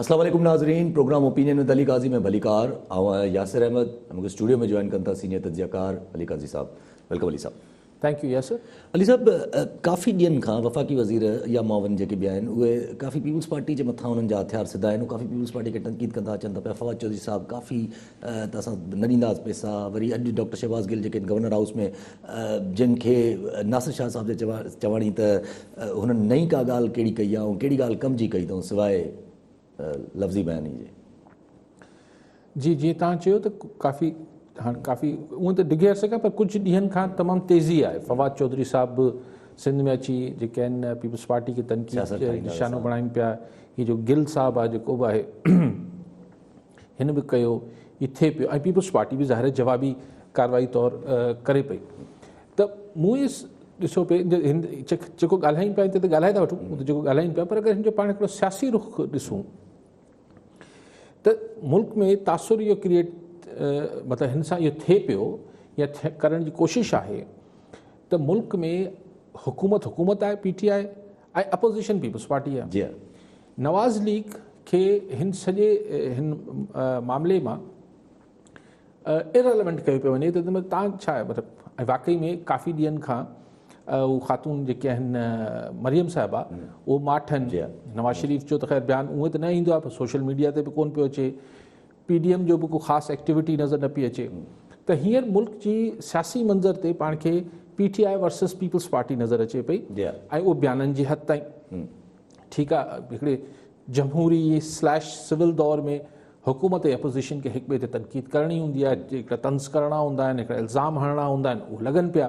اسلام عليڪم ناظرين programme opinion with Ali Qazi ۾ ڀليڪار آئون آهيان ياسر احمد ۽ مون کي اسٽوڊيو ۾ جوائن ڪن ٿا سينيئر تجزيه ڪار علي قاضي صاحب ويلڪم علي صاحب. Thank you Yasir. علي صاحب ڪافي ڏينهن کان وفاقي وزير يا معاون جيڪي به آهن اهي ڪافي پيپلز پارٽي جي مٿان انهن جا هٿيار سڌا آهن ڪافي پيپلز پارٽي کي تنقيد ڪندا اچن ٿا پيا فواد چوڌري صاحب ڪافي ته اسان نه ڏينداس پيسا وري اڄ ڊاڪٽر شهباز گل جيڪي گورنر هائوس ۾ جن کي ناصر شاهه صاحب جا چواڻي ته هنن نه ئي ڪا ڳالهه ڪهڙي ڪئي آ ۽ ڪهڙي ڳالهه ڪم جي ڪئي اٿئون سواء لفظي بياني جي. جي جيئن توهان چيو ته ڪافي هاڻ ڪافي اونء ته ڊگهي عرصي کان پر ڪجهه ڏينهن کان تمام تيزي آهي فواد چوڌري صاحب به سنڌ ۾ اچي جيڪي آهن پيپلز پارٽي کي تنقيد جو نشانو بڻائين پيا هي جو گل صاحب آهي جيڪو به آهي هن به ڪيو هي ٿئي پيو ۽ پيپلز پارٽي به ظاهر جوابي ڪارروائي طور ڪري پئي ته موئيس ڏسو پي هن جيڪو ڳالهايون پيا ته ڳالهائي ٿا وٺون ته جيڪو ڳالهايون پيا پر اگر هن جو پاڻ هڪڙو سياسي رخ ڏسون ته ملڪ ۾ تاثر اهو ڪريئيٽ مطلب هن سان اهو ٿئي پيو يا ڪرڻ جي ڪوشش آهي ته ملڪ ۾ حڪومت حڪومت آهي P T I ۽ opposition Peoples Party آهي جي نواز ليگ کي هن سڄي هن معاملي مان Irrelevant ڪيو پيو وڃي ته تان ڇا آهي مطلب ۽ واقعي ۾ ڪافي ڏينهن کان اهو خاتون جيڪي آهن مريم صاحبه اهو ماٺن نواز شريف جو ته خير بيان اونئي ته نه ايندو آهي سوشل ميڊيا تي به ڪون پيو اچي پي ڊي ايم جو به ڪو خاص ايڪٽيوٽي نظر نه پي اچي ته هينئر ملڪ جي سياسي منظر تي پاڻ کي P T I versus Peoples Party نظر اچي پئي ۽ اهو بيانن جي حد تائين ٺيڪ آهي هڪڙي جمهوري سليش سول دور ۾ حڪومت ۽ اپوزيشن کي هڪ ٻئي تي تنقيد ڪرڻي هوندي آهي، هڪڙا طنز ڪرڻا هوندا آهن، هڪڙا الزام هڻڻا هوندا آهن، اهي لڳن پيا.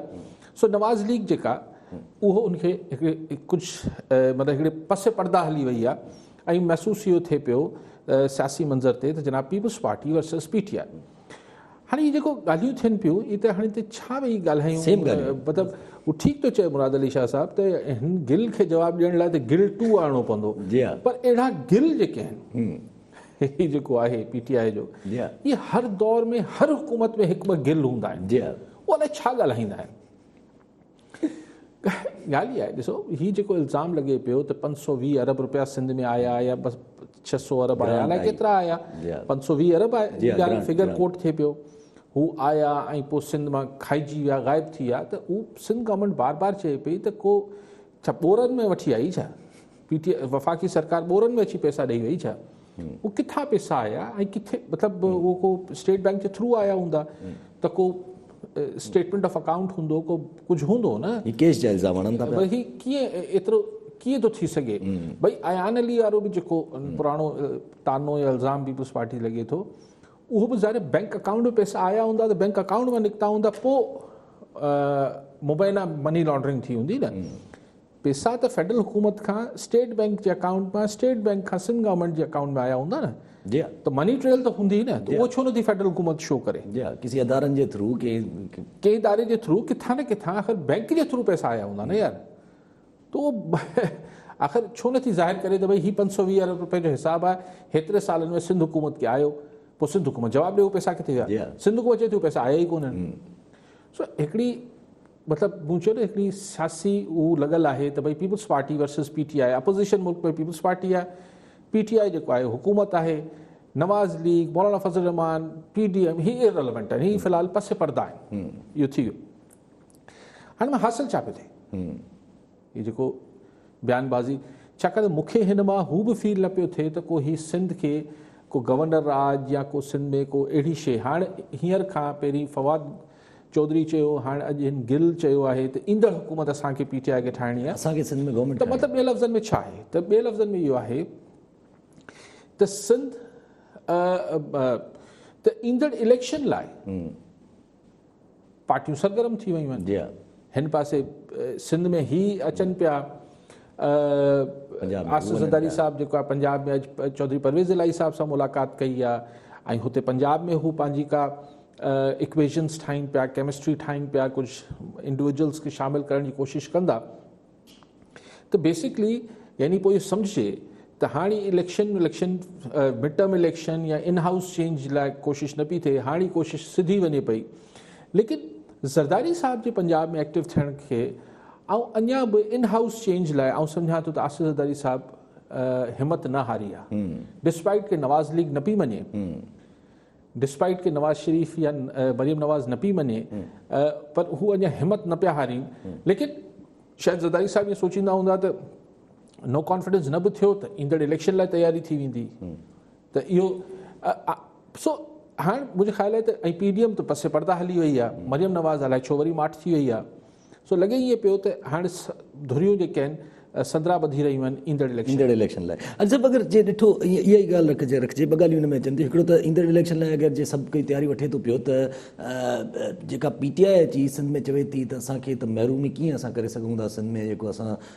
سو نواز ليگ جيڪا اهو ان کي هڪڙي ڪجهه مطلب هڪڙي پس پرده هلي وئي آهي ۽ محسوس اهو ٿئي پيو سياسي منظر تي ته جناب Peoples Party versus P T I. هاڻي هي جيڪو ڳالهيون ٿين پيون اي ته هاڻي تي ڇا ويهي ڳالهايون مطلب هو ٺيڪ ٿو چئي مراد علي شاهه صاحب ته هن گل کي جواب ڏيڻ لاء ته گل ٽو آڻڻو پوندو پر اهڙا گل جيڪي آهن هي جيڪو آهي پي ٽي آء جو اهي هر دور ۾ هر حڪومت ۾ هڪ ٻه گل هوندا آهن جي هو الائي ڇا ڳالهائيندا آهن ڳالهه هي آهي ڏسو هي جيڪو الزام لڳي پيو ته پنج سو ويهه ارب روپيا سنڌ ۾ آيا يا بس ڇهه سو ارب آيا الائي ڪيترا آيا پنج سو ويهه ارب آيا فگر ڪوٽ ٿئي پيو هو آيا ۽ پوء سنڌ مان کائجي ويا غائب ٿي ويا ته هو سنڌ گورنمنٽ بار بار چئي پئي ته ڪو ڇا ٻورن ۾ وٺي آئي ڇا؟ پي ٽي آء وفاقي سرڪار ٻورن ۾ اچي پئسا ڏئي وئي ڇا؟ اهي ڪٿان پئسا آيا ۽ ڪٿي مطلب اهو ڪو اسٽيٽ بئنڪ جي ٿرو آيا هوندا ته ڪو اسٽيٽمينٽ آف اڪائونٽ هوندو ڪو ڪجهه هوندو نه هي ڪيش جا الزام هڻن ٿا پيا هي ڪيئن ايترو ڪيئن ٿو ٿي سگهي ڀئي ايان علي وارو به جيڪو پراڻو تانو يا الزام پيپلز پارٽي لڳي ٿو اهو به ظاهر آهي بئنڪ اڪائونٽ ۾ پئسا آيا هوندا ته بئنڪ اڪائونٽ مان نڪتا هوندا پوء مبينا مني لانڊرنگ ٿي هوندي نه پئسا ته فيڊرل حڪومت کان اسٽيٽ بئنڪ جي اڪائونٽ مان اسٽيٽ بئنڪ کان سنڌ گورنمنٽ جي اڪائونٽ ۾ آيا هوندا نه جي ته مني ٽريل ته هوندي نه ته اهو ڇو نه ٿي فيڊرل حڪومت شو ڪري جي ڪسي ادارن جي ٿرو ڪي ڪي اداري جي ٿرو ڪٿان نه ڪٿان آخر بئنڪ جي ٿرو پئسا آيا هوندا نه يار تو آخر ڇو نٿي ظاهر ڪري ته ڀئي هي پنج سؤ ويهه ارب رپين جو حساب آهي، هيتري سالن ۾ سنڌ حڪومت کي آيو، پوء سنڌ حڪومت جواب ڏي هو پئسا ڪٿي ويا؟ سنڌ حڪومت چئي ٿي هو پئسا آيا ئي ڪونهن. سو هڪڙي مطلب مون چيو نه هڪڙي سياسي هو لڳل آهي ته ڀئي Peoples Party versus P T I, opposition ملڪ ۾ پيپلز پارٽي آهي، پي ٽي آء جيڪو آهي حڪومت آهي، Nawaz league, Maulana Fazl ur Rehman, P D M هي ايرليونٽ آهن، هي في الحال پس پرده آهن. اهو ٿي ويو. هن مان حاصل ڇا پيو ٿئي؟ هي جيڪو بيان بازي ڇاڪاڻ ته مون کي هن مان هو به فيل نه پيو ٿئي ته ڪو هي سنڌ کي ڪو گورنر راڄ يا ڪو سنڌ ۾ ڪو اهڙي شيء هاڻ هينئر کان پهرين فواد چوڌري چيو هاڻ اڄ هن گل چيو آهي ته ايندڙ حڪومت اسان کي پي ٽي آء کي ٺاهڻي آهي اسان کي سنڌ ۾ گورنمينٽ ته مطلب ٻي لفظن ۾ ڇا آهي ته ٻي لفظن ۾ اهو آهي ته سنڌ ته ايندڙ اليڪشن لاء پارٽيون سرگرم ٿي ويون آهن هن پاسي سنڌ ۾ هي اچن پيا آصف زرداري صاحب جيڪو آهي پنجاب ۾ چوڌري پرويز الاهي صاحب سان ملاقات ڪئي آهي ۽ هتي پنجاب ۾ هو پنهنجي ڪا اڪويشنس ٺاهين پيا ڪيمسٽري ٺاهين پيا ڪجهه انڊيويجلس کي شامل ڪرڻ جي ڪوشش ڪندا ته بيسڪلي يعني پوء اهو سمجهجي ته هاڻي election election mid term election يا ان هائوس چينج لاء ڪوشش نه پئي ٿئي هاڻي ڪوشش سڌي وڃي پئي ليڪن زرداري صاحب جي پنجاب ۾ ايڪٽو ٿيڻ کي آئون اڃا به ان هائوس چينج لاء آئون سمجهان ٿو ته آصف زرداري صاحب همت نه هاري آهي ڊسپائٽ ڪي نواز ليگ نه پئي مڃي ڊسپائيٽ ڪي نواز شريف يا مريم نواز نه پئي مڃي پر هو اڃا همت نه پيا هارين ليڪن شايد زرداري صاحب ائين سوچيندا هوندا ته نو ڪانفيڊنس نه به ٿيو ته ايندڙ اليڪشن لاء تياري ٿي ويندي ته اهو سو هاڻ منهنجي خيال آهي ته ۽ پي ڊي ايم ته پسي پردا هلي وئي آهي مريم نواز الائي ڇو وري ماٺ ٿي وئي آهي سو لڳي ائين پيو ته هاڻ ڌريون جيڪي آهن سندرا ٻڌي رهيون آهن ايندڙ اليڪشن ايندڙ اليڪشن لاء. اڄ صاحب اگر جي ڏٺو اها ئي ڳالهه رکجي رکجي ٻه ڳالهيون ان ۾ اچن ٿيون هڪڙو ته ايندڙ اليڪشن لاء اگر جي سڀ ڪوئي تياري وٺي ٿو پيو ته جيڪا پي ٽي آء اچي سنڌ ۾ چوي ٿي ته اسان کي ته محروم ئي ڪيئن اسان ڪري سگهون ٿا سنڌ ۾ جيڪو اسان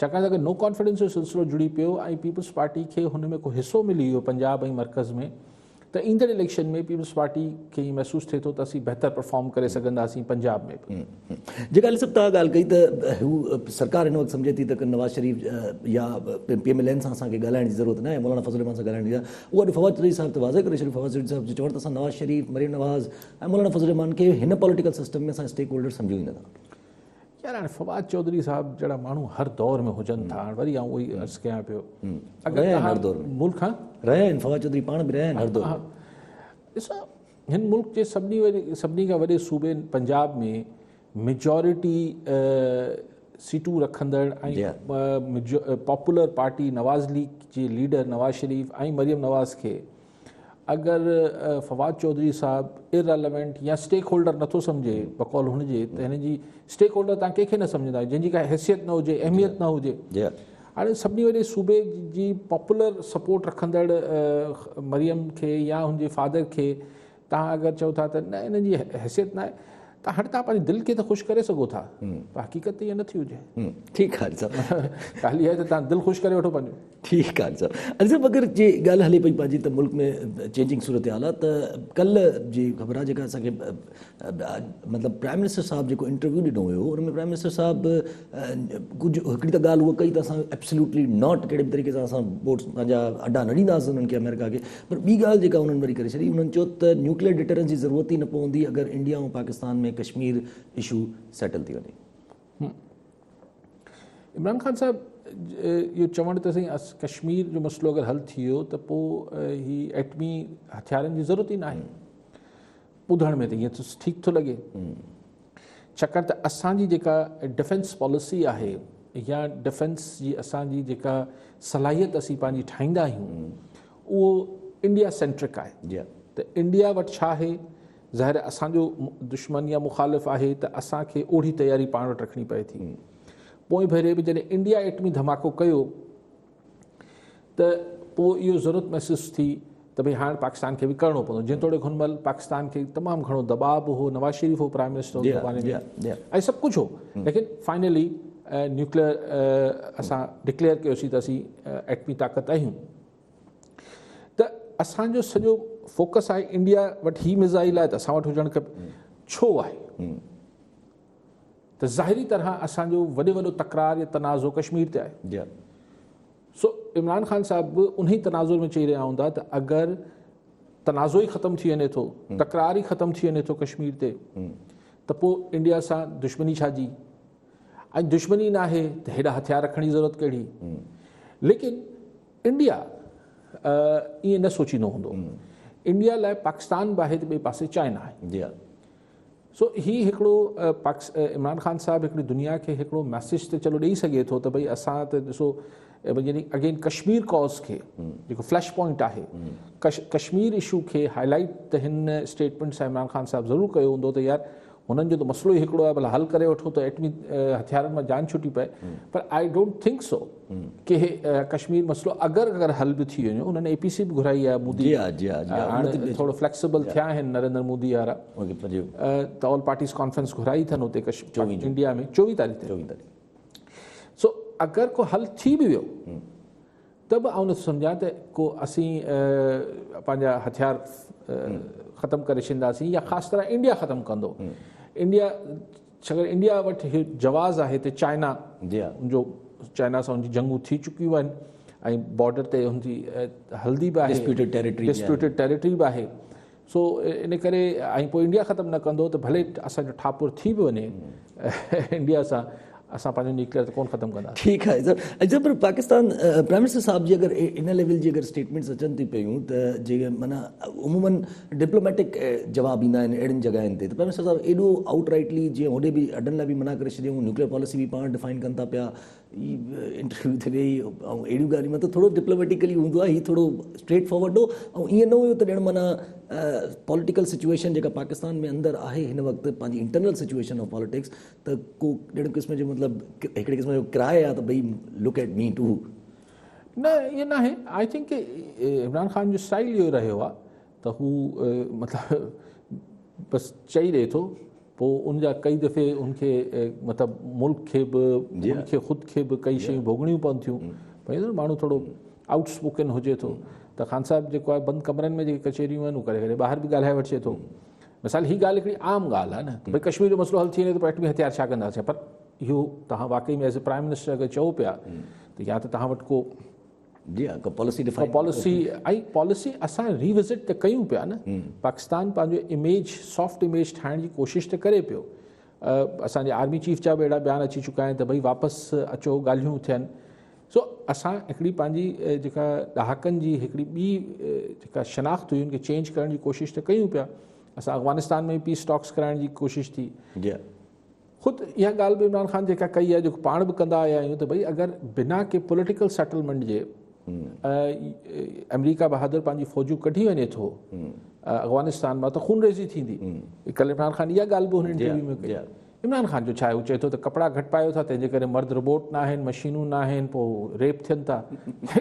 ڇاڪاڻ ته اگر نو ڪانفيڊنس جو سلسلو جڙي پيو ۽ پيپلز پارٽي کي هن ۾ ڪو حصو ملي ويو پنجاب ۽ مرڪز ۾ ته ايندڙ اليڪشن ۾ پيپلز پارٽي کي ائين محسوس ٿئي ٿو ته اسين بهتر پرفارم ڪري سگهنداسين پنجاب ۾ به. جيڪا علي صاحب توهان ڳالهه ڪئي ته هو سرڪار هن وقت سمجهي ٿي ته نواز شريف يا پي ايم ايل اين سان اسان کي ڳالهائڻ جي ضرورت ناهي مولانا فضل الرحمان سان ڳالهائڻ جي اهو اڄ فواد چوڌري صاحب ته واضح ڪري ڇڏيو فواد چوڌري صاحب جي چوڻ ته اسان نواز شريف مريم نواز ۽ مولانا فضل الرحمان کي هن پوليٽيڪل سسٽم ۾ اسان اسٽيڪ هولڊر سمجهون ئي نٿا. يار هاڻي فواد چوڌري صاحب جهڙا ماڻهو هر دور ۾ هجن ٿا هاڻي وري آئون اهي عرض ڪيان پيو اگر هر دور ۾ ملڪ ها رهيا آهن فواد چوڌري پاڻ به رهيا آهن هر دور ڏسو هن ملڪ جي سڀني سڀني کان وڏي صوبي پنجاب ۾ ميجورٽي سيٽون رکندڙ ۽ پاپولر پارٽي نواز ليگ جي ليڊر نواز شريف ۽ مريم نواز کي اگر فواد چوڌري صاحب Irrelevant يا اسٽيڪ هولڊر نٿو سمجهي بقول هن جي ته هن جي اسٽيڪ هولڊر تان ڪنهن کي نه سمجهندا آهيو جنهن جي ڪا حيثيت نه هجي اهميت نه هجي هاڻي سڀني وڏي صوبي جي پاپولر سپورٽ رکندڙ مريم کي يا هن جي فادر کي توهان اگر چئو ٿا ته نه انهن جي حيثيت ناهي ته هاڻي توهان پنهنجي دل کي ته خوش ڪري سگهو ٿا پر حقيقت ته ائين نه ٿي هجي ٺيڪ آهي صاحب ڳالهه اها آهي ته توهان دل خوش ڪري وٺو پنهنجو ٺيڪ آهي صاحب علي صاحب اگر جي ڳالهه هلي پئي پنهنجي ته ملڪ ۾ چينجنگ صورتحال آهي ته ڪلهه جي خبر آهي جيڪا اسان کي مطلب پرائم منسٽر صاحب جيڪو انٽرويو ڏنو هيو ان ۾ پرائم منسٽر صاحب ڪجهه هڪڙي ته ڳالهه هوء ڪئي ته اسان Absolutely Not ڪهڙي به طريقي سان اسان بوٽس پنهنجا اڏا نه ڏينداسين انهن کي آمريڪا کي پر ٻي ڳالهه جيڪا انهن وري ڪري ڇڏي انهن چيو ته نيوڪليئر ڊٽرنس جي ضرورت ئي نه پوندي اگر India ۽ Pakistan ۾ Kashmir issue settle ٿي وڃي. عمران خان صاحب اهو چوڻ ته سائين ڪشمير جو مسئلو اگر حل ٿي ويو ته پوء هي ايٽمي هٿيارن جي ضرورت ئي ناهي. ٻڌڻ ۾ ته ائين ٺيڪ ٿو لڳي ڇاڪاڻ ته اسان جي جيڪا ڊفينس پاليسي آهي يا ڊفينس جي اسان جي جيڪا صلاحيت اسين پنهنجي ٺاهيندا آهيون اهو انڊيا سينٽرڪ آهي جي ته انڊيا وٽ ڇا آهي ظاهر اسان جو دشمن يا مخالف آهي ته اسان کي اوڙي تياري پاڻ وٽ رکڻي پئي ٿي پوء ڀيري به جڏهن انڊيا ايٽمي ڌماڪو ڪيو ته پوء اهو ضرورت محسوس ٿي ته ڀئي هاڻ پاڪستان کي به ڪرڻو پوندو جيتوڻيڪ هن مهل پاڪستان کي تمام گهڻو دٻاء به هو نواز شريف هو پرائم منسٽر جي باري ۾ ۽ سڀ ڪجهه هو ليڪن فائنلي نيوڪليئر اسان ڊڪليئر ڪيوسي ته اسين ايٽمي طاقت آهيون ته اسان جو سڄو فوڪس آهي انڊيا وٽ هي مزائل آهي ته اسان وٽ هجڻ کپي ڇو آهي ته ظاهري طرح اسان جو وڏي وڏو تڪرار يا تنازعو ڪشمير تي آهي سو عمران خان صاحب به انهي تنازعي ۾ چئي رهيا هوندا ته اگر تنازعو ئي ختم ٿي وڃي ٿو تڪرار ئي ختم ٿي وڃي ٿو ڪشمير تي ته پوء انڊيا سان دشمني ڇا جي ۽ دشمني نه آهي ته هيڏا هٿيار رکڻ جي ضرورت ڪهڙي ليڪن انڊيا ائين نه سوچيندو هوندو انڊيا لاء پاڪستان به آهي ته ٻئي پاسي چائنا آهي سو هي هڪڙو عمران خان صاحب هڪڙي دنيا کي هڪڙو ميسج ته چلو ڏئي سگهي ٿو ته ڀئي اسان ته ڏسو يعني اگين ڪشمير ڪاز کي جيڪو فلش پوائنٽ آهي ڪشمير اشو کي هاء لائيٽ ته هن اسٽيٽمينٽ سان عمران خان صاحب ضرور ڪيو هوندو ته يار هنن جو ته مسئلو ئي هڪڙو آهي ڀلا حل ڪري وٺو ته ايٽمي هٿيارن مان جان ڇٽي پئي پر آء ڊونٽ ٿنڪ سو ڪي ڪشمير مسئلو اگر اگر حل به ٿي وڃو انهن اي پي سي به گهرائي آهي مودي جي آ جي آ جي آ ٿورو فليڪسبل ٿيا آهن نريندر مودي وارا ته آل پارٽيز ڪانفرنس گهرائي ٿن اتي ڪشمير انڊيا ۾ چوويهه تاريخ چوويهه تاريخ سو اگر ڪو حل ٿي به ويو ته به آئون نٿو سمجھان ته ڪو اسين پنهنجا هٿيار ختم ڪري ڇڏينداسين يا خاص طرح انڊيا ختم ڪندو انڊيا ڇاڪاڻ انڊيا وٽ اهو جواز آهي ته چائنا جو چائنا سان ان جي جنگون ٿي چڪيون آهن ۽ بارڊر تي ان جي هلندي به آهي ڊسپيوٽيڊ ٽيريٽري ڊسپيوٽيڊ ٽيريٽري به آهي سو ان ڪري ۽ پوء انڊيا ختم نه ڪندو ته ڀلي اسان جو ٺاپور ٿي به وڃي انڊيا سان اسان پنهنجو نيوڪليئر ته ڪون ختم ڪندا ٺيڪ آهي سر اچا پر پاڪستان پرائم منسٽر صاحب جي اگر ان ليول جي اگر اسٽيٽمينٽس اچن ٿي پيون ته جي معنيٰ عمومن ڊپلوميٽڪ جواب ايندا آهن اهڙين جڳهين تي ته پرائيم منسٽر صاحب ايڏو آئوٽ رائيٽلي جيئن هوڏي به اڏن لاء به منع ڪري ڇڏيون نيوڪليئر پاليسي به پاڻ ڊفائن ڪن ٿا پيا هي انٽرويو ٿي ويئي ۽ اهڙيون ڳالهيون مطلب ٿورو ڊپلوميٽڪلي هوندو آهي هي ٿورو اسٽريٽ فارورڊ هو ۽ ائين نه هيو ته ڄڻ معنيٰ پوليٽيڪل سچويشن جيڪا پاڪستان ۾ اندر آهي هن وقت پنهنجي انٽرنل سچويشن آف پاليٽڪس ته ڪو ڄڻ قسم جو مطلب هڪڙي قسم جو ڪراء آهي ته ڀئي لوڪ ايٽ مي ٽو نه ائين ناهي آئي ٿنڪ ڪي عمران خان جو اسٽائل اهو رهيو آهي ته هو مطلب بس چئي ڏئي ٿو پوء ان جا ڪئي دفعي ان کي مطلب ملڪ کي به جي ان کي خود کي به ڪئي شيون ڀوڳڻيون پون ٿيون ڀائی ماڻهو ٿورو آؤٽ اسپوڪن هجي ٿو ته خان صاحب جيڪو آهي بند ڪمرن ۾ جيڪي ڪچهريون آهن اهو ڪري ڪري ٻاهر به ڳالهائي وٺجي ٿو مثال هي ڳالهه هڪڙي عام ڳالهه آهي نه ته ڀائی ڪشمير جو مسئلو حل ٿي وڃي ته پوء ايٽمي هٿيار ڇا ڪنداسين پر اهو توهان واقعي ۾ ايز اي پرائم منسٽر اگر چئو پيا ته يا ته توهان وٽ ڪو جي ها policy define policy a policy اسان ري وزٽ ته ڪيون پيا نه پاڪستان پنهنجو اميج سافٽ اميج ٺاهڻ جي ڪوشش ته ڪري پيو اسان جي آرمي چيف جا به اهڙا بيان اچي چڪا آهن ته ڀئي واپس اچو ڳالهيون ٿين سو اسان هڪڙي پنهنجي جيڪا ڏهاڪن جي هڪڙي ٻي جيڪا شناخت هئي ان کي چينج ڪرڻ جي ڪوشش ته ڪيون پيا اسان افغانستان ۾ پيس ٽاڪس ڪرائڻ جي ڪوشش ٿي جي خود اها ڳالهه به عمران خان جيڪا ڪئي آهي جيڪو پاڻ به ڪندا آيا آهيون ته ڀئي اگر بنا ڪي پوليٽيڪل سيٽلمينٽ جي آمريڪا بهادر پنهنجي فوجون ڪڍي وڃي ٿو افغانستان مان ته خون ريزي ٿيندي ڪل عمران خان اها ڳالهه به هن انٽرويو ۾ ڪئي عمران خان جو ڇا آهي هو چئي ٿو ته ڪپڙا گهٽ پايو ٿا تنهن جي ڪري مرد روبوٽ نه آهن مشينون نه آهن پوء ريپ ٿين ٿا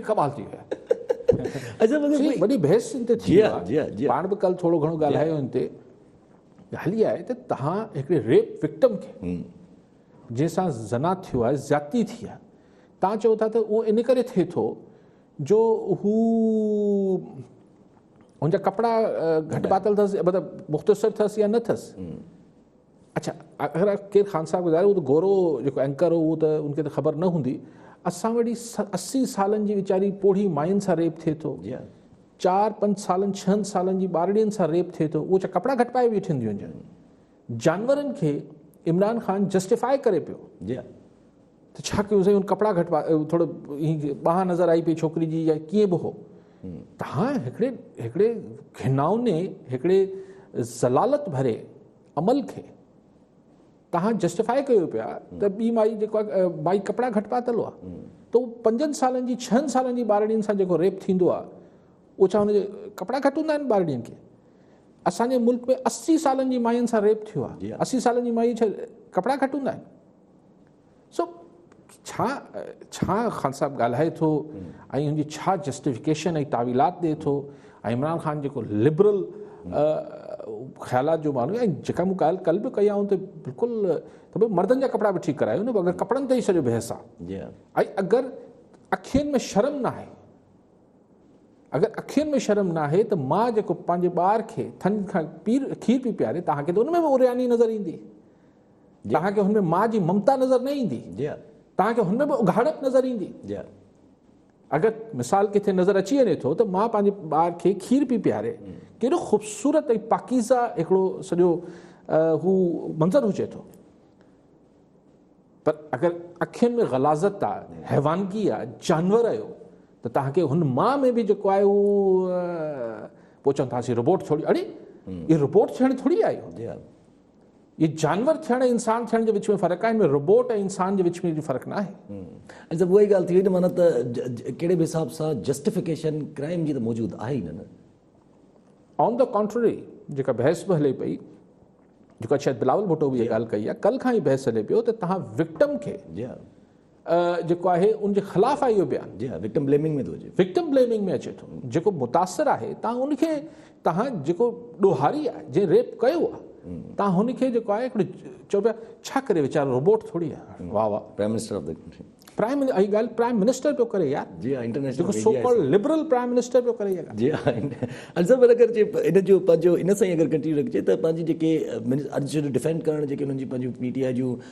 ڪمال ٿي ويو وڏي بحث ان تي ٿي ويو پاڻ به ڪل ٿورو گهڻو ڳالهايو ان تي ڳالهه اها آهي ته توهان هڪڙي ريپ وڪٽم کي جنهن سان زنا ٿيو آهي زيادتي ٿي آهي توهان چئو ٿا ته اهو ان ڪري ٿئي ٿو جو هو ان جا ڪپڙا گهٽ پاتل اٿس مطلب مختصر اٿس يا نه اٿس اچھا اگر ڪير خان صاحب ٻڌايو اهو ته گورو جيڪو اينڪر هو اهو ته ان کي ته خبر نه هوندي اسان وٽ اسي سالن جي ويچاري پوڙهي مائين سان ريپ ٿئي ٿو چار پنج سالن ڇهن سالن جي ٻارڙين سان ريپ ٿئي ٿو اهو ڇا ڪپڙا گهٽائي ويٺيون ٿيون هجن جانورن کي عمران خان جسٽيفائي ڪري پيو ته ڇا ڪيون سائين ان ڪپڙا گهٽوا ٿورو ٻانهن نظر آئي پئي ڇوڪري جي يا ڪيئن به هو تهان هڪڙي هڪڙي گهناوني هڪڙي ذلالت ڀري عمل کي توهان جسٽيفاء ڪيو پيا ته ٻي مائي جيڪو آ مائي ڪپڙا گهٽ پاتل هئا ته هو پنجن سالن جي ڇهن سالن جي ٻارڙين سان جيڪو ريپ ٿيندو آ اهو ڇا هن جي ڪپڙا گهٽ هوندا آهن ٻارڙين کي اسان جي ملڪ ۾ اسي سالن جي ماين سان ريپ ٿيو آ اسي سالن جي مائي ڇا ڪپڙا گهٽ هوندا آهن سو ڇا ڇا خان صاحب ڳالهائي ٿو ۽ ان جي ڇا جسٽيفڪيشن ۽ تعويلات ڏي ٿو ۽ عمران خان جيڪو لبرل خيالات جو ماڻهو ۽ جيڪا مون ڳالهه ڪل به ڪئي آئون ته بلڪل ته بھي مردن جا ڪپڙا به ٺيڪ ڪرايو نه اگر ڪپڙن تي سڄو بحث آ جي ۽ اگر اکين ۾ شرم نه آهي اگر اکين ۾ شرم نه آهي ته ماء جيڪو پنهنجي ٻار کي ٿن کان پير کير پي پياري تهان کي ته ان ۾ به اورياني نظر ايندي توهان کي هن ۾ ماء جي ممتا نظر نه ايندي. توهان کي هن ۾ به اگهاڙپ نظر ايندي. اگر مثال ڪٿي نظر اچي وڃي ٿو ته ماء پنهنجي ٻار کي کير پئي پياري، ڪيڏو خوبصورت ۽ پاڪيزه هڪڙو سڄو هو منظر هجي ٿو. پر اگر اکين ۾ غلاظت آ، حيوانگي آ، جانور آهيو ته توهان کي هن ماء ۾ به جيڪو آهي هو پوء چون ٿاسين روبوٽ ٿوري، اڙي! اهي روبوٽ ٿيڻ ٿوري آيو. جي جانور ٿيڻ ۽ انسان ٿيڻ جي وچ ۾ فرق آهي، ان ۾ روبوٽ ۽ انسان جي وچ ۾ اهڙي فرق ناهي. ۽ صاحب اها ئي ڳالهه ٿي وئي نه معنيٰ ته ڪهڙي به حساب سان جسٽيفڪيشن ڪرائيم جي ته موجود آهي ئي نه نه. آن دي ڪانٽرري جيڪا بحث به هلي پئي جيڪا شايد بلاول ڀٽو به اها ڳالهه ڪئي آهي ڪل کان هي بحث هلي پيو ته توهان وڪٽم کي جيڪو آهي ان جي خلاف آهي اهو بيان. جي ها وڪٽم بليمنگ ۾ ٿو اچي. وڪٽم بليمنگ ۾ اچي ٿو جيڪو متاثر آهي تان ان کي تهان جيڪو ڏوهاري آهي جنهن ريپ ڪيو آهي تان هن کي جيڪو آهي هڪڙي چئو پيا ڇا ڪري ويچارو روبوٽ ٿوري آهي واهه واهه prime minister of the prime اي ڳال پرائم منسٽر پيو ڪري يار جي ها international so called liberal prime minister پيو ڪري يار جي ها الزم اگر جي ان جو پنهنجو ان سان اگر ڪنٽينيو رکجي ته پنهنجي جيڪي ارجنٽ ڊيفينڊ ڪرڻ جيڪي انهن جي پنهنجي پي ٽي آء جون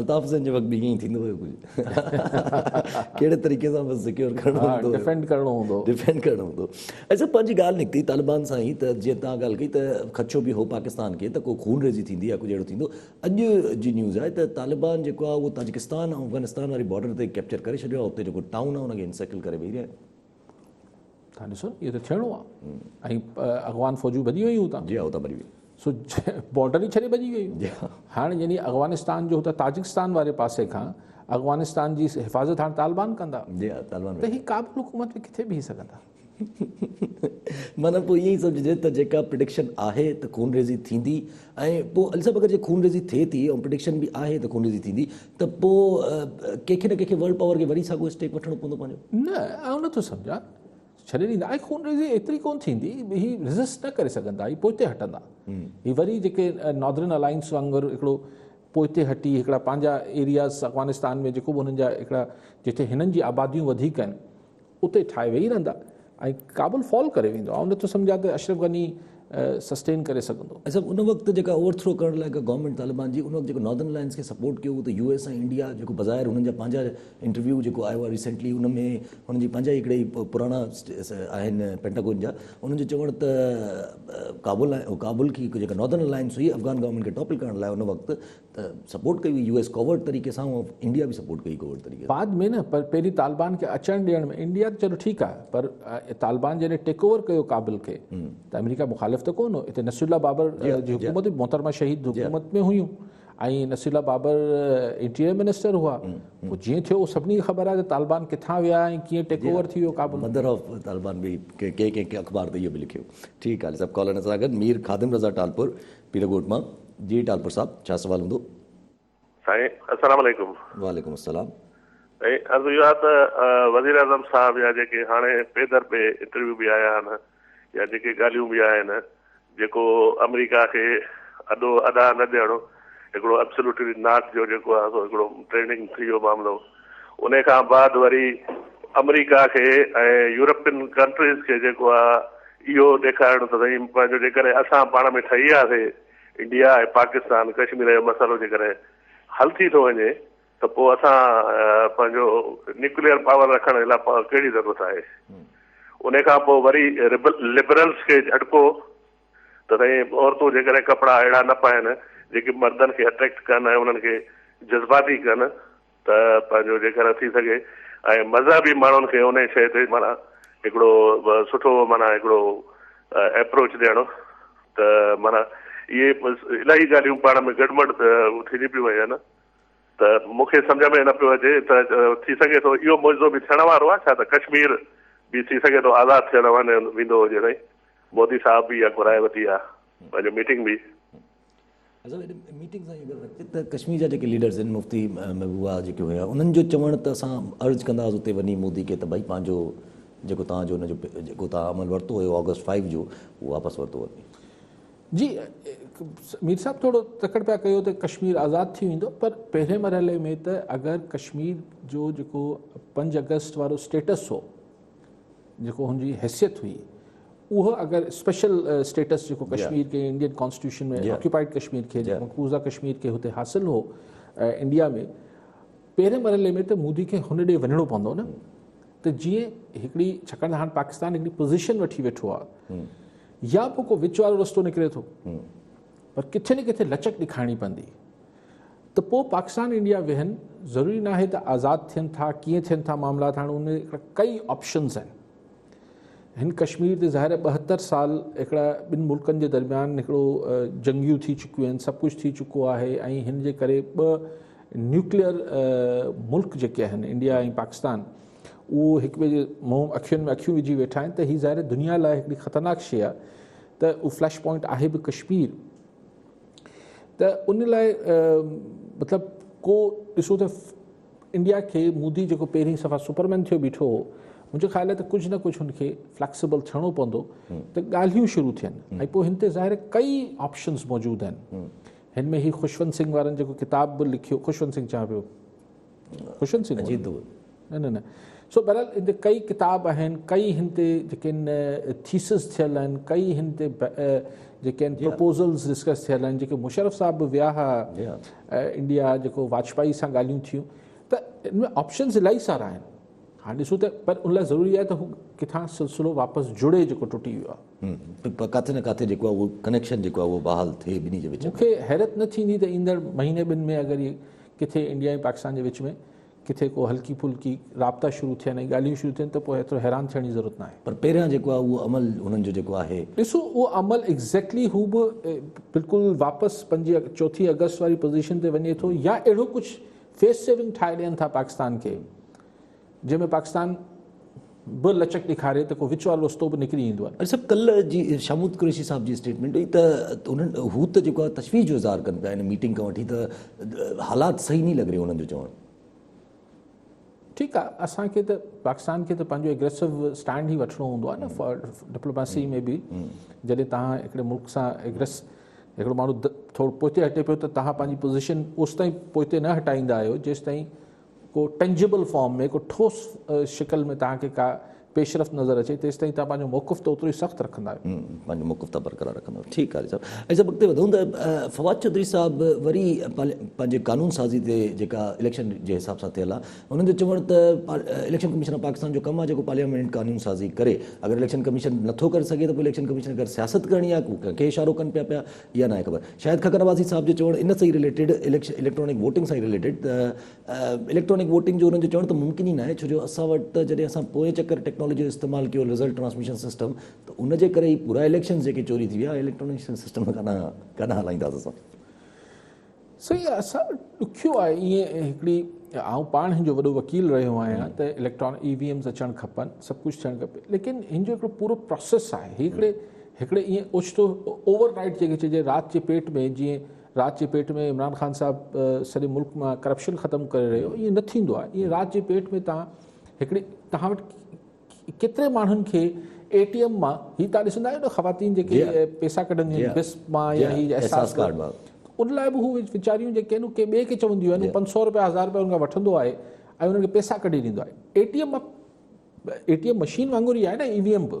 الطاف حسين جي وقت به ائين ئي ٿيندو هيو ڪجهه ڪهڙي طريقي سان بس سڪيور ڪرڻو هوندو هيو ڊفينڊ ڪرڻو هوندو هو ڊفينڊ ڪرڻو هوندو هو اچا پنهنجي ڳالهه نڪتي طالبان سان ئي ته جيئن تان ڳالهه ڪئي ته خدشو به هو پاڪستان کي ته ڪو خون ريزي ٿيندي يا ڪجهه اهڙو ٿيندو اڄ جي نيوز آهي ته طالبان جيڪو آهي اهو تاجڪستان ۽ افغانستان واري بارڊر تي ڪيپچر ڪري ڇڏيو آهي اتي جيڪو ٽائون آهي ان کي انسيڪل ڪري ويهي رهيا آهن تان ڏسو اهو ته ٿيڻو آ ۽ اغوان فوجون ڀڄي ويون هتان جي هتان ڀڄي ويون سو بارڊر ئي ڇڏي ڀڄي ويون جي هاڻ يعني اغوانستان جو هتان تاجڪستان واري پاسي کان اغوانستان جي حفاظت هاڻ طالبان ڪندا جي طالبان ته هي ڪابل حڪومت ۾ ڪٿي بيهي سگهندا معنی پوء ائين سمجهجي ته جيڪا پريڊڪشن آهي ته خونريزي ٿيندي ۽ پوء علي صاحب اگر جي خونريزي ٿئي ٿي ۽ پريڊڪشن به آهي ته خونريزي ٿيندي ته پوء ڪنهن کي نه ڪنهن کي ورلڊ پاور کي وري ساڳيو اسٽيپ وٺڻو پوندو پنهنجو. نه آئون نٿو سمجهان ڇڏي ڏيندا ۽ خونريزي ايتري ڪونه ٿيندي هي ريزسٽ نه ڪري سگهندا هي پوئتي هٽندا هي وري جيڪي ناردرن الائنس وانگر هڪڙو پوئتي هٽي هڪڙا پنهنجا ايرياز افغانستان ۾ جيڪو به هنن جا هڪڙا جتي هنن جي آباديون وڌيڪ آهن اتي ٺاهي ويهي رهندا ۽ ڪابل فال ڪري ويندو. آئون نٿو سمجهان ته اشرف غني سسٽين ڪري سگهندو. اصل ان وقت جيڪا اوور ٿرو ڪرڻ لاء ڪا گورنمينٽ طالبان جي ان وقت جيڪو ناردرن الائنس کي سپورٽ ڪيو هو ته يو ايس ۽ انڊيا جيڪو بظاهر هنن جا پنهنجا انٽرويو جيڪو آيو آهي ريسينٽلي ان ۾ هنن جي پنهنجا ئي هڪڙا ئي پراڻا آهن پينٽاگون جا انهن جو چوڻ ته ڪابل ڪابل کي جيڪا ناردرن الائنس هئي افغان گورنمينٽ کي ٽاپل ڪرڻ لاء ان وقت ته سپورٽ ڪئي هئي يو ايس ڪورٽ طريقي سان ۽ انڊيا به سپورٽ ڪئي ڪورٽ طريقي سان. بعد ۾ نه پر پهرين طالبان کي اچڻ ڏيڻ ۾ انڊيا ته چلو ٺيڪ آهي پر طالبان جڏهن ٽيڪ اوور ڪيو ڪابل کي ته آمريڪا مخالف ته ڪون هو اتي نصير الله بابر جي حڪومت هئي محترمه شهيد حڪومت ۾ هيون ۽ Naseerullah Babar interior minister هئا پوء جيئن ٿيو سڀني کي خبر آهي ته طالبان ڪٿان ويا ۽ ڪيئن ٽيڪ اوور ٿي ويو ڪابل مدر آف طالبان به ڪنهن ڪنهن اخبار ته اهو به لکيو ٺيڪ آهي سڀ ڪالرن سان گڏ مير خادم رضا ٽالپور پير ڳوٺ مان جي ٽالپر صاحب ڇا سوال هوندو. سائين السلام عليڪم. وعليڪم السلام. سائين عرض اهو آهي ته وزير اعظم صاحب يا جيڪي هاڻي پي در پي انٽرويو به آيا آهن يا جيڪي ڳالهيون به آهن جيڪو آمريڪا کي اڏو اڏا نه ڏيڻ هڪڙو ابسلوٽلي ناٽ جو جيڪو آهي سو هڪڙو ٽريننگ ٿي ويو معاملو انهي کان بعد وري آمريڪا کي ۽ يورپين ڪنٽريز کي جيڪو آ اهو ڏيکارڻ ته سهي پنهنجو جيڪڏهن اسان پاڻ ۾ ٺهي آ سي انڊيا ۽ پاڪستان ڪشمير جو مسئلو جيڪڏهن حل ٿي ٿو وڃي ته پو اسان پنهنجو نيوڪليئر پاور رکڻ جي لاء ڪهڙي ضرورت آهي انهي کان پو وري لبرلز کي جهٽڪو ته سهي عورتون جيڪڏهن ڪپڙا اهڙا نه پائن جيڪي مردن کي اٽريڪٽ ڪن ۽ انهن کي جذباتي ڪن ته پنهنجو جيڪڏهن ٿي سگهي ۽ مذهبي ماڻهن کي انهي شيء تي معنيٰ هڪڙو سٺو معنيٰ هڪڙو ايپروچ ڏيڻ ته معنيٰ اهي الاهي ڳالهيون پاڻ ۾ گڏمڙ ٿينديون پيون وڃن ته مون کي سمجهه ۾ نه پيو اچي ته ٿي سگهي ٿو اهو معجزو به ٿيڻ وارو آهي ڇا ته ڪشمير به ٿي سگهي ٿو آزاد ٿيڻ وڃي ويندو هجي سائين مودي صاحب به اها گهرائي وتي آهي پنهنجو ميٽنگ به اصل ۾ ميٽنگ سان اهو ڳالهه ته ڪشمير جا جيڪي ليڊرز آهن مفتي محبوبا جيڪي هيا انهن جو چوڻ ته اسان عرض ڪنداس اتي وڃي مودي کي ته ڀائي پنهنجو جيڪو توهان جو ان جو جيڪو توهان عمل ورتو هيو آگسٽ فائيو جو اهو واپس ورتو وڃي جي مير صاحب ٿورو تڪڙ پيا ڪيو ته ڪشمير آزاد ٿي ويندو پر پهرين مرحلي ۾ ته اگر ڪشمير جو جيڪو پنج اگسٽ وارو اسٽيٽس هو جيڪو هن جي حيثيت هئي اهو اگر اسپيشل اسٽيٽس جيڪو ڪشمير کي انڊين ڪانسٽيٽيوشن ۾ آڪيوپائيڊ ڪشمير کي جيڪو مقبوضه ڪشمير کي هتي حاصل هو انڊيا ۾ پهرين مرحلي ۾ ته مودي کي هن ڏي وڃڻو پوندو نه ته جيئن هڪڙي ڇاڪاڻ ته هاڻ پاڪستان هڪڙي پوزيشن وٺي ويٺو آهي يا پوء ڪو وچ وارو رستو نڪري ٿو پر ڪٿي نه ڪٿي لچڪ ڏيکارڻي پوندي ته پوء پاڪستان انڊيا ويهن ضروري ناهي ته آزاد ٿين ٿا ڪيئن ٿين ٿا معاملات هاڻ ان ڪئي آپشنز آهن هن ڪشمير تي ظاهر ٻهتر سال هڪڙا ٻن ملڪن جي درميان هڪڙو جنگيون ٿي چڪيون آهن سڀ ڪجهه ٿي چڪو آهي ۽ هن جي ڪري ٻه نيوڪليئر ملڪ جيڪي آهن انڊيا ۽ پاڪستان اهو هڪ ٻئي جي منهن اکين ۾ اکيون وجهي ويٺا آهن ته هي ظاهر دنيا لاء هڪڙي خطرناڪ شي آهي ته اهو فلش پوائنٽ آهي به ڪشمير ته ان لاء مطلب ڪو ڏسو ته انڊيا کي مودي جيڪو پهرين صفا سپرمين ٿيو بيٺو هو منهنجو خيال آهي ته ڪجهه نه ڪجهه هن کي فليڪسبل ٿيڻو پوندو ته ڳالهيون شروع ٿين ۽ پوء هن تي ظاهر ڪئي آپشنز موجود آهن هن ۾ هي خوشونت سنگهه وارن جيڪو ڪتاب به لکيو خوشونت سنگهه چان پيو خوشونت سنگهه جي دور نه نه نه سو بهرحال هن تي ڪئي ڪتاب آهن ڪئي هن تي جيڪي آهن ٿيسز ٿيل آهن ڪئي هن تي جيڪي آهن پرپوزلز ڊسڪس ٿيل آهن جيڪي مشرف صاحب به ويا هئا ايئر انڊيا جيڪو واجپائي سان ڳالهيون ٿيون ته ان ۾ آپشنز الائي سارا آهن هاڻ ڏسون ته پر ان لاء ضروري آهي ته هو ڪٿان سلسلو واپس جڙي جيڪو ٽٽي ويو آهي پر ڪاٿي نه ڪاٿي جيڪو آهي اهو ڪنيڪشن جيڪو آهي اهو بحال ٿئي ٻنهي جي وچ ۾ مون کي حيرت نه ٿيندي ته ايندڙ مهيني ٻن ۾ اگر هي ڪٿي انڊيا ۽ پاڪستان جي وچ ۾ ڪٿي ڪو هلڪي ڦلڪي رابطا شروع ٿين ۽ ڳالهيون شروع ٿين ته پوء ايترو حيران ٿيڻ جي ضرورت ناهي. پر پهريان جيڪو آهي اهو عمل هنن جو جيڪو آهي. ڏسو اهو عمل ايگزيڪٽلي هو به بلڪل واپس پنهنجي چوٿين آگسٽ واري پوزيشن تي وڃي ٿو يا اهڙو ڪجهه فيس سيونگ ٺاهي ڏين ٿا پاڪستان کي جنهن ۾ پاڪستان به لچڪ ڏيکاري ته ڪو وچ وارو رستو به نڪري ايندو آهي. اڄ صاحب ڪلهه جي شاهمود قريشي صاحب جي اسٽيٽمينٽ هئي ته انهن هو ته جيڪو آهي تشويش جو اظهار ڪن پيا هن ميٽنگ کان وٺي ته حالات صحيح نهين لڳ رهي انهن جو چوڻ. ٺيڪ آهي اسان کي ته پاڪستان کي ته پنهنجو اگريسو اسٽينڊ ئي وٺڻو هوندو آهي نه ڊپلوماسي ۾ به جڏهن تهان هڪڙي ملڪ سان اگريس هڪڙو ماڻهو ٿورو پوئتي هٽي پيو ته تهان پنهنجي پوزيشن اوستائين پوئتي نه هٽائيندا آهيو جيستائين ڪو Tangible Form ۾ ڪو ٺوس شڪل ۾ توهان کي ڪا پيشرفت نظر اچي تيستائين توهان پنهنجو موقف ته اوترو ئي سخت رکندا آهيو. پنهنجو موقف ته برقرار رکندا آهيو. ٺيڪ قاري صاحب. ۽ سڀ اڳتي وڌون ته فواد چوڌري صاحب وري پنهنجي قانون سازي تي جيڪا اليڪشن جي حساب سان ٿيل آهي انهن جو چوڻ ته اليڪشن ڪميشن آف پاڪستان جو ڪم آهي جيڪو پارليامينٽ قانون سازي ڪري اگر اليڪشن ڪميشن نٿو ڪري سگهي ته پوء اليڪشن ڪميشن کي اگر سياست ڪرڻي آهي ڪو ڪنهن کي اشارو ڪن پيا پيا اها ناهي خبر شايد ککر نوازي صاحب جو چوڻ ان سان ئي رليٽيڊ اليڪٽرانڪ ووٽنگ سان ئي رليٽيڊ ته اليڪٽرانڪ ووٽنگ جو انهن جو چوڻ ته ممڪن ئي ناهي ڇو جو اسان وٽ ته جڏهن اسان پوئين چڪر ٽيڪنالاجي جو استعمال ڪيو رزلٽ ٽرانسميشن سسٽم ته ان جي ڪري ئي پورا اليڪشنز جيڪي چوري ٿي ويا اليڪٽرانڪ سسٽم کان ڪڏهن هلائينداسين اسان. سائين اسان ڏکيو آهي ائين هڪڙي آئون پاڻ هن جو وڏو وڪيل رهيو آهيان ته اليڪٽران اي وي ايمز اچڻ کپن سڀ ڪجهه ٿيڻ کپي ليڪن هن جو هڪڙو پورو پروسيس آهي هڪڙي هڪڙي ائين اوچتو اوور نائٽ جيڪي چئجي رات جي پيٽ ۾ جيئن رات جي پيٽ ۾ عمران خان صاحب سڄي ملڪ مان ڪرپشن ختم ڪري رهيو ائين نه ٿيندو آهي ائين رات جي پيٽ ۾ تان هڪڙي تان وٽ ڪيتري ماڻهن کي اي ٽي ايم مان هي تان ڏسندا آهيو نه خواتين جيڪي پيسا ڪڍنديون آهن بس مان يا هي احساس ڪارڊ مان ان لاء به هو ويچاريون جيڪي آهن ڪي ٻئي کي چونديون آهن پنج سؤ روپيا هزار روپيا ان کان وٺندو آهي ۽ انهن کي پيسا ڪڍي ڏيندو آهي A T M A T M machine وانگر ئي آهي نه اي وي ايم به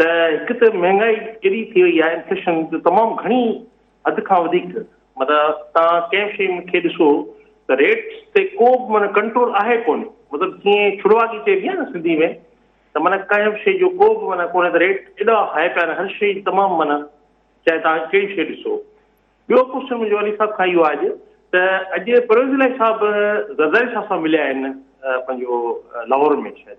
ته هڪ ته مهانگائي ايڏي ٿي وئي آهي انفليشن جو تمام گهڻي حد کان وڌيڪ مطلب تان ڪنهن به شيء کي ڏسو ته ريٽس تي ڪو به معنيٰ ڪنٽرول آهي ڪونه مطلب جيئن ڇڙواڳي چئبي آهي نه سنڌي ۾ ته معنيٰ ڪنهن به شيء جو ڪو به معنيٰ ڪونهي ته ريٽ ايڏا هاء پيا آهن هر شيء تمام معنيٰ چاهي تان ڪهڙي شيء ڏسو ٻيو ڪوشچن منهنجو علي صاحب کان اهو آهي اڄ ته اڄ پرويز علائي صاحب زرداري صاحب سان مليا آهن پنهنجو لاهور ۾ شايد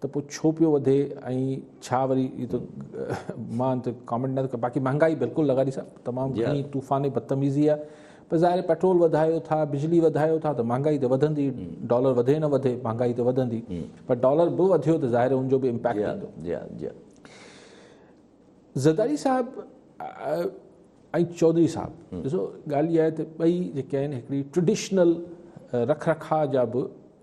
ته پوء ڇو پيو وڌي ۽ ڇا وري اهو ته مان ته ڪامينٽ نه باقي مهانگائي بلڪل لغاري صاحب تمام گهڻي طوفاني بدتميزي آهي پر ظاهر پيٽرول وڌايو ٿا بجلي وڌايو ٿا ته مهانگائي ته وڌندي ڊالر وڌي نه وڌي مهانگائي ته وڌندي پر ڊالر به وڌيو ته ظاهر ان جو به امپيڪٽ ٿيندو زرداري صاحب ۽ چوڌري صاحب ڏسو ڳالهه اها آهي ته ٻئي جيڪي آهن هڪڙي ٽريڊيشنل رک رکاء جا به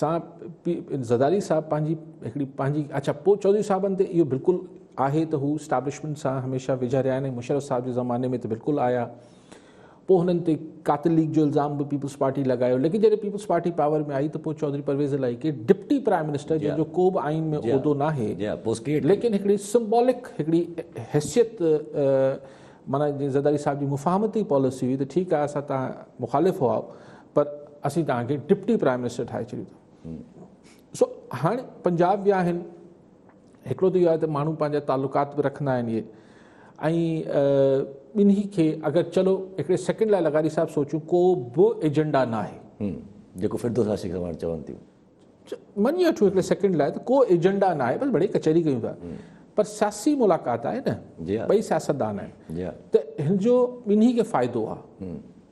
سان زرداري صاحب پنهنجي هڪڙي پنهنجي اچا پوء چوڌري صاحبن تي اهو بلڪل آهي ته هو اسٽابلشمنٽ سان هميشه ويجها رهيا آهن مشرف صاحب جي زماني ۾ ته بلڪل آيا پوء هنن تي قاتل ليگ جو الزام به پيپلز پارٽي لڳايو ليڪن جڏهن پيپلز پارٽي پاور ۾ آئي ته پوء چوڌري پرويز الائي کي ڊپٽي پرائم منسٽر جنهن جو ڪو به آئين ۾ عهدو نه آهي ليڪن هڪڙي سمبولڪ هڪڙي حيثيت مانا جي زرداري صاحب جي مفاهمتي پاليسي هئي ته ٺيڪ آهي اسان تان مخالف هئا پر اسين توهان کي ڊپٽي پرائم منسٽر ٺاهي ڇڏيو اٿم سو هاڻي پنجاب ويا آهن هڪڙو ته اهو آهي ته ماڻهو پنهنجا تعلقات به رکندا آهن اهي ۽ ٻنهي کي اگر چلو هڪڙي سيڪنڊ لاء لغاري صاحب سوچون ڪو به ايجنڊا نه آهي جيڪو فردوس عاشق سواڻ چون ٿيون مڃي وٺو هڪڙي سيڪنڊ لاء ته ڪو ايجنڊا نه آهي بس بڙي ڪچهري ڪيون ٿا پر سياسي ملاقات آهي نه ٻئي سياستدان آهن ته هن جو ٻنهي کي فائدو آهي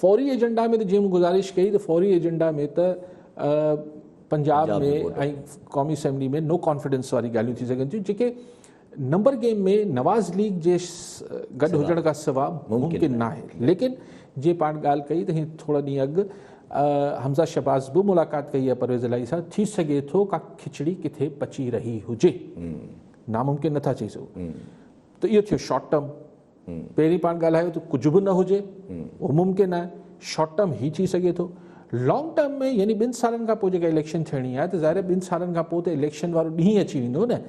فوري ايجنڊا ۾ ته جيئن مون گذارش ڪئي ته فوري ايجنڊا ۾ ته پنجاب ۾ ۽ قومي اسيمبلي ۾ نو ڪانفيڊنس واري ڳالهيون ٿي سگهن ٿيون جيڪي نمبر گيم ۾ نواز ليگ جي گڏ هجڻ کان سوا ممڪن نه آهي ليڪن جي پاڻ ڳالهه ڪئي ته هي ٿورا ڏينهن اڳ حمزه شباز به ملاقات ڪئي آهي پرويز الاهي سان ٿي سگهي ٿو ڪا کچڙي ڪٿي پچي رهي هجي ناممڪن نٿا چئي سگهون ته اهو ٿيو شارٽ ٽرم پهرين پاڻ ڳالهايو ته ڪجهه به نه هجي اهو ممڪن آهي شارٽ ٽرم هي ٿي سگهي ٿو لانگ ٽرم ۾ يعني ٻن سالن کان پوء جيڪا اليڪشن ٿيڻي آهي ته ظاهر ٻن سالن کان پوء ته اليڪشن وارو ڏينهن اچي ويندو نه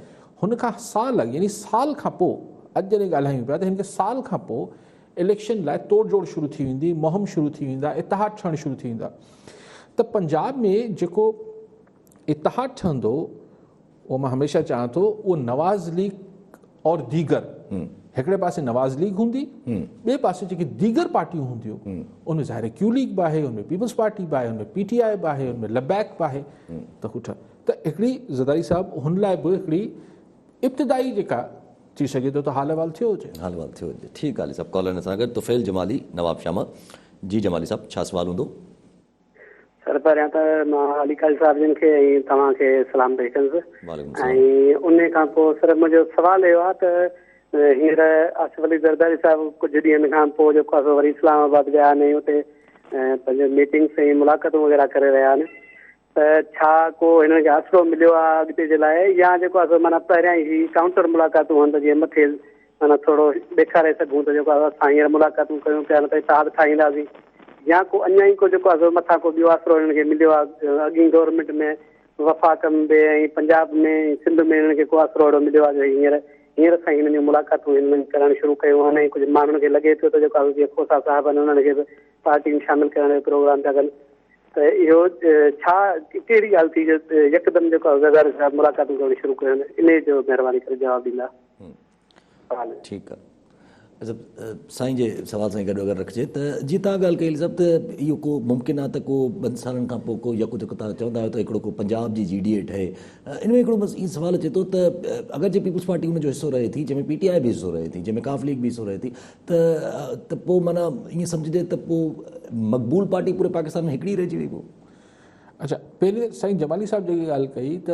هن کان سال اڳ يعني سال کان پوء اڄ جڏهن ڳالهايون پيا ته هن کي سال کان پوء اليڪشن لاء توڙ جوڙ شروع ٿي ويندي مهم شروع ٿي ويندا اتحاد ٺهڻ شروع ٿي ويندا ته پنجاب ۾ جيڪو اتحاد ٺهندو اهو مان هميشه چاهيان ٿو اهو نواز ليگ اور ديگر هڪڙي پاسي نواز ليگ هوندي ٻئي پاسي جيڪي ديگر پارٽيون هونديون ان ۾ ظاهر ڪيو ليگ به آهي ان ۾ پيپلز پارٽي به آهي ان ۾ پي ٽي آء به آهي ان ۾ لبيڪ به آهي ته هو ٺهن ته هڪڙي زرداري صاحب هن لاء به هڪڙي ابتدائي جيڪا ٿي سگهي ٿو ته حال احوال ٿيو هجي حال احوال ٿيو هجي ٺيڪ علي صاحب ڪالر سان گڏ طفيل جمالي نواب شاما جي جمالي صاحب ڇا سوال هوندو سر پهريان ته مان علي قاري صاحب جن کي ۽ توهان کي سلام پئي ڪنس ۽ ان کان پوء سر منهنجو سوال اهو آهي ته هينئر آصف علي زرداري صاحب ڪجهه ڏينهن کان پوء جيڪو آهي وري اسلام آباد ويا آهن ۽ اتي پنهنجو ميٽنگس ۽ ملاقاتون وغيرهه ڪري رهيا آهن ته ڇا ڪو هنن کي آسرو مليو آهي اڳتي جي لاء يا جيڪو آهي معنيٰ پهريان ئي هي ڪائونٽر ملاقاتون هئن ته جيئن مٿي معنيٰ ٿورو ڏيکاري سگهون ته جيڪو اسان هينئر ملاقاتون ڪيون پيا نه ته اتحاد ٺاهينداسين يا ڪو اڃا ئي ڪو جيڪو آهي مٿان ڪو ٻيو آسرو هنن کي مليو آهي اڳين گورنمينٽ ۾ وفاق م به ۽ پنجاب ۾ سنڌ ۾ هنن کي ڪو آسرو اهڙو مليو آهي جو هينئر هينئر اسان هنن جون ملاقاتون هنن ڪرڻ شروع ڪيون آهن ۽ ڪجهه ماڻهن کي لڳي ٿيو ته جيڪو آهي جيئن کوسا صاحب آهن انهن کي به پارٽي ۾ شامل ڪرڻ جو پروگرام پيا ڪن ته اهو ڇا ڪهڙي ڳالهه ٿي جو يڪدم جيڪو آهي وزارت صاحب ملاقاتون ڪرڻ شروع ڪيون آهن انهي جو مهرباني ڪري جواب ڏيندا ٺيڪ آ سائين جي سوال سان گڏ اگر رکجي ته جي تان ڳالھ ڪئي صاحب ته اهو ڪو ممڪن آ ته ڪو ٻن سالن کان پوء ڪو يڪو جيڪو تان چوندا آهيو ته هڪڙو ڪو پنجاب جي جي ڊي اي ٺهي ان ۾ هڪڙو بس اي سوال اچي ٿو ته اگر جي پيپلز پارٽي ان جو حصو رهي ٿي جنهن ۾ پي ٽي آئي به حصو رهي ٿي جنهن ۾ ڪاف ليگ به حصو رهي ٿي ته ته پوء معنيٰ ائين سمجهجي ته پوء مقبول پارٽي پوري پاڪستان ۾ هڪڙي رهجي وئي پوء اچا پهرين سائين جمالي صاحب جيڪي ڳالھ ڪئي ته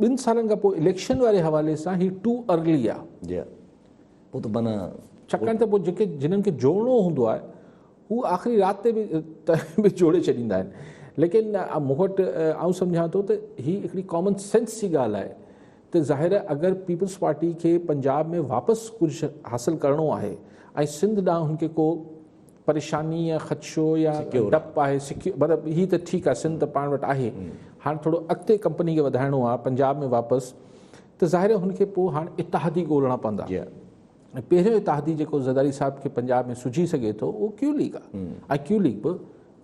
ٻن سالن کان پوء اليڪشن واري حوالي سان هي ٽو ارلي آ. جي ها پوء ته معنيٰ ڇاڪاڻ ته پوء جيڪي جنھن کي جوڙڻو هوندو آهي هو آخري رات تي به جوڙي ڇڏيندا آهن ليڪن مون وٽ آئون سمجهان ٿو ته هي هڪڙي ڪامن سينس جي ڳالهه آهي ته ظاهر اگر پيپلز پارٽي کي پنجاب ۾ واپس ڪجهه حاصل ڪرڻو آهي ۽ سنڌ ڏانهن هن کي ڪو پريشاني يا خدشو يا ڊپ آهي سڪيو مطلب هي ته ٺيڪ آهي سنڌ ته پاڻ وٽ آهي هاڻ ٿورو اڳتي ڪمپني کي وڌائڻو آهي پنجاب ۾ واپس ته ظاهر آهي هن کي پوء هاڻ اتحادي ڳولڻا پوندا ۽ پهريون اتحادي جيڪو زرداري صاحب کي پنجاب ۾ سجهي سگهي ٿو اهو ڪيو ليگ آهي ۽ ڪيو ليگ به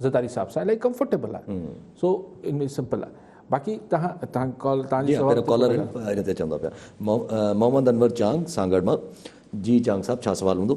زرداري صاحب سان الاهي ڪمفرٽيبل آهي سو ان ۾ سمپل آهي باقي تهان تهان ڪال تهان جي سوال ڪالر ان تي چوندا پيا محمد انور چانگ سانگهڙ مان جي چانگ صاحب ڇا سوال هوندو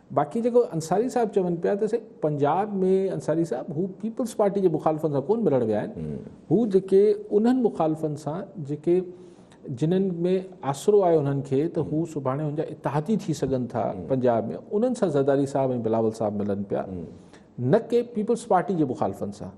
باقي جيڪو انصاري صاحب چون پيا ته سائين پنجاب ۾ انصاري صاحب هو پيپلز پارٽي جي مخالفن سان ڪون ملڻ ويا آهن هو جيڪي انهن مخالفن سان جيڪي جنن ۾ آسرو آهي انهن کي ته هو سڀاڻي هن جا اتحادي ٿي سگهن ٿا پنجاب ۾ انهن سان زرداري صاحب ۽ بلاول صاحب ملن پيا نه ڪي پيپلز پارٽي جي مخالفن سان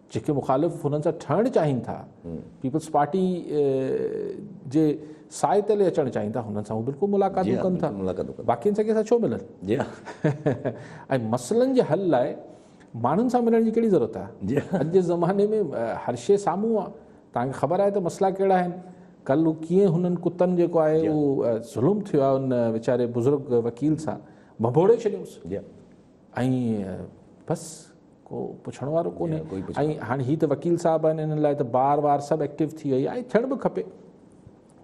جيڪي مخالف هنن سان ٺهڻ چاهين ٿا، پيپلز پارٽي جي سائي تلي اچڻ چاهين ٿا، هنن سان هو بلڪل ملاقاتون ڪن ٿا، باقين سان ڪنهن سان ڇو ملن؟ ۽ مسئلن جي حل لاء ماڻهن سان ملڻ جي ڪهڙي ضرورت آهي؟ اڄ جي زماني ۾ هر شيء سامهون آهي، توهان کي خبر آهي ته مسئلا ڪهڙا آهن، ڪل هو ڪيئن هنن ڪتن جيڪو آهي اهو ظلم ٿيو آهي ان ويچاري بزرگ وڪيل سان، ڀنڀوڙي ڇڏيوس. ۽ بس ڪو پڇڻ وارو ڪونهي ۽ هاڻي هي ته وڪيل صاحب آهن انهن لاء ته بار وار سڀ ايڪٽيو ٿي وئي آهي ٿيڻ به کپي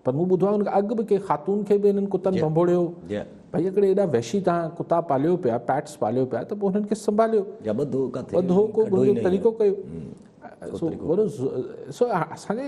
پر مون ٻڌو آهي اڳ به ڪنهن خاتون کي به انهن ڪتن ڀنڀوڙيو ڀئي هڪڙي ايڏا وحشي تان ڪتا پاليو پيا پيٽس پاليو پيا ته پوء انهن کي سنڀاليو ٻڌو ڪٿي ٻڌو ڪو طريقو ڪيو سو اسان جي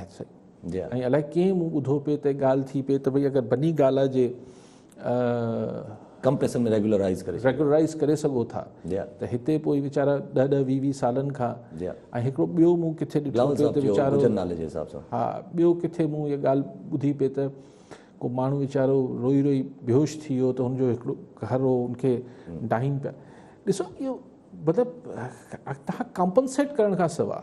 ۽ الائي ڪئين مون ٻڌو پئي ته ڳالهه ٿي پئي ته ڀئي اگر بني گالا جي ڪمپريسن ۾ ريگيولرائيز ڪري ريگيولرائيز ڪري سگهو ٿا ته هتي پوء ويچارا ڏهه ڏهه ويهه ويهه سالن کان ۽ هڪڙو ٻيو مون ڪٿي ڏٺو پئي ته ويچارو نالي جي حساب سان ها ٻيو ڪٿي مون هيء ڳالهه ٻڌي پئي ته ڪو ماڻهو ويچارو روئي روئي بيهوش ٿي ويو ته هن جو هڪڙو گهر هو ان کي ڊاهين پيا ڏسو اهو مطلب تهان ڪمپنسيٽ ڪرڻ کان سواء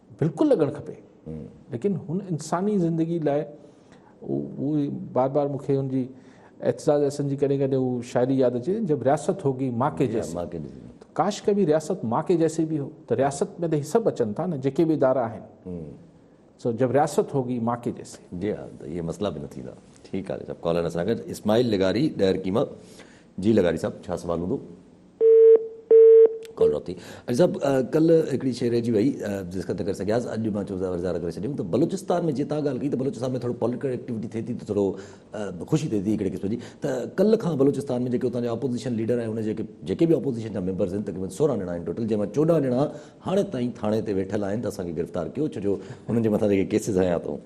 بلڪل لڳڻ کپي ليڪن هن انساني زندگي لاء هو بار بار مونکي هن جي اعتزاز احسن جي ڪڏهن ڪڏهن هو شاعري ياد اچي جب رياست هوگي ماء کي جيسي ماء کي جيسي ڪاش ڪبي رياست ماء کي جيسي به هو ته رياست ۾ ته هي سڀ اچن ٿا نه جيڪي به ادارا آهن سو جب رياست هوگي ماء کي جيسي جي ها ته هي مسئلا به نه ٿيندا ٺيڪ آهي سڀ ڪالر اسان کي اسماعيل لغاري ڏهرڪي مان جي لغاري صاحب ڇا سوال هوندو ڪال ڊراپ ٿي. اڄ صاحب ڪل هڪڙي شيء رهجي وئي ڊسڪس نه ڪري سگهياس اڄ مان چوسان وري ظاهر ڪري ڇڏيم ته بلوچستان ۾ جي تان ڳالهه ڪئي ته بلوچستان ۾ ٿورو پوليٽيڪل ايڪٽيوٽي ٿئي ٿي ته ٿورو خوشي ٿئي ٿي هڪڙي قسم جي ته ڪل کان بلوچستان ۾ جيڪي اتان جا اپوزيشن ليڊر ۽ ان جي جيڪي به اپوزيشن جا ميمبرز آهن تقريبن سورهن ڄڻا آهن ٽوٽل جنهن مان چوڏهن ڄڻا هاڻي تائين ٿاڻي تي ويٺل آهن ته اسان کي گرفتار ڪيو ڇو جو انهن جي مٿان جيڪي ڪيسز هنيا اٿئون.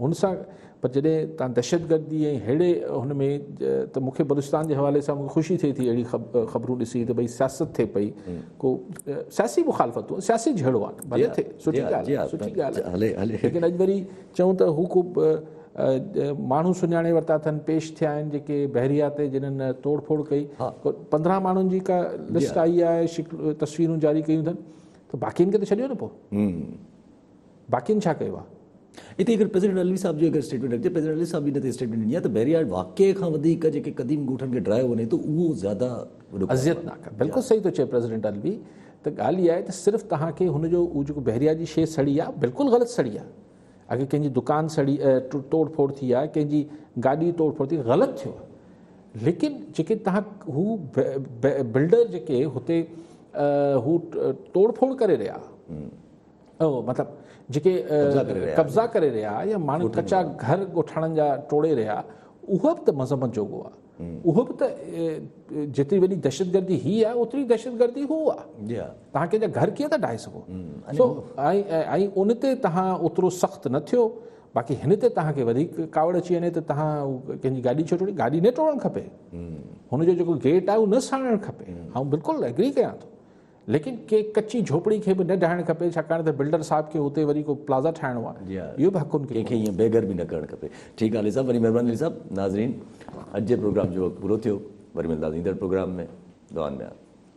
هن سان پر جڏهن تان دهشتگردي ۽ ههڙي هن ۾ ته مون کي بلوچستان جي حوالي سان مون کي خوشي ٿئي ٿي اهڙي خبرون ڏسي ته ڀئي سياست ٿئي پئي ڪو سياسي مخالفتون سياسي جهيڙو آهن ڀلي ٿئي سٺي ڳالهه آهي سٺي ڳالهه آهي ليڪن اڄ وري چون ته هو ڪو ماڻهو سڃاڻي ورتا اٿن پيش ٿيا آهن جيڪي بحريا تي جنن توڙ ڦوڙ ڪئي پندرهن ماڻهن جي ڪا لسٽ آئي آهي تصويرون جاري ڪيون اٿن ته باقين کي ته ڇڏيو نه پوء باقين ڇا ڪيو آهي؟ اتي اگر پريزيڊنٽ علوي صاحب جي اگر اسٽيٽمينٽ رکجي، پريزيڊنٽ علوي صاحب جي ان تي اسٽيٽمينٽ ڏني آهي ته بحرياڙ واقعي کان وڌيڪ جيڪي قديم ڳوٺن کي ڊرايو وڃي ٿو اهو زياده وڏو اذيت ناڪ آهي بلڪل صحيح ٿو چئي پريزيڊنٽ علوي ته ڳالهه اها آهي ته صرف توهان کي هن جو اهو جيڪو بحرياڙ جي شيء سڙي آهي بلڪل غلط سڙي آهي اگر ڪنهن جي دڪان سڙي ٽوڙ ڦوڙ ٿي آهي ڪنهن جي گاڏي ٽوڙ ڦوڙ ٿي غلط ٿيو آهي ليڪن جيڪي توهان هو بلڊر جيڪي هتي هو ٽوڙ ڦوڙ ڪري رهيا اهو مطلب جيڪي قبضا ڪري رهيا يا ماڻهو ڪچا گهر ڳوٺاڻن جا ٽوڙي رهيا اهو به ته مذمت جوڳو آهي اهو به ته جيتري وڏي دهشتگردي هي آهي اوتري دهشتگردي هو آهي تهان ڪنهن جا گهر ڪيئن ٿا ڊاهي سگهو سو ۽ ان تي تهان اوترو سخت نه ٿيو باقي هن تي تهان کي وڌيڪ ڪاوڙ اچي وڃي ته تهان ڪنهن جي گاڏي ڇو ٽوڙي گاڏي نه ٽوڙڻ کپي هن جو جيڪو گيٽ آهي اهو نه ساڙڻ کپي آئون بلڪل ايگري ڪيان ٿو ليڪن ڪنهن ڪچي جهوپڙي کي به نه ڊاهڻ کپي ڇاڪاڻ ته بلڊر صاحب کي اتي وري ڪو پلازا ٺاهڻو آهي جي ها اهو به حقن کي ڪنهن کي ائين بيگهر به نه ڪرڻ کپي ٺيڪ آهي علي صاحب وڏي مهرباني علي صاحب ناظرين اڄ جي پروگرام جو وقت پورو ٿيو وري ملنداس ايندڙ پروگرام ۾ دعائن ۾ ياد.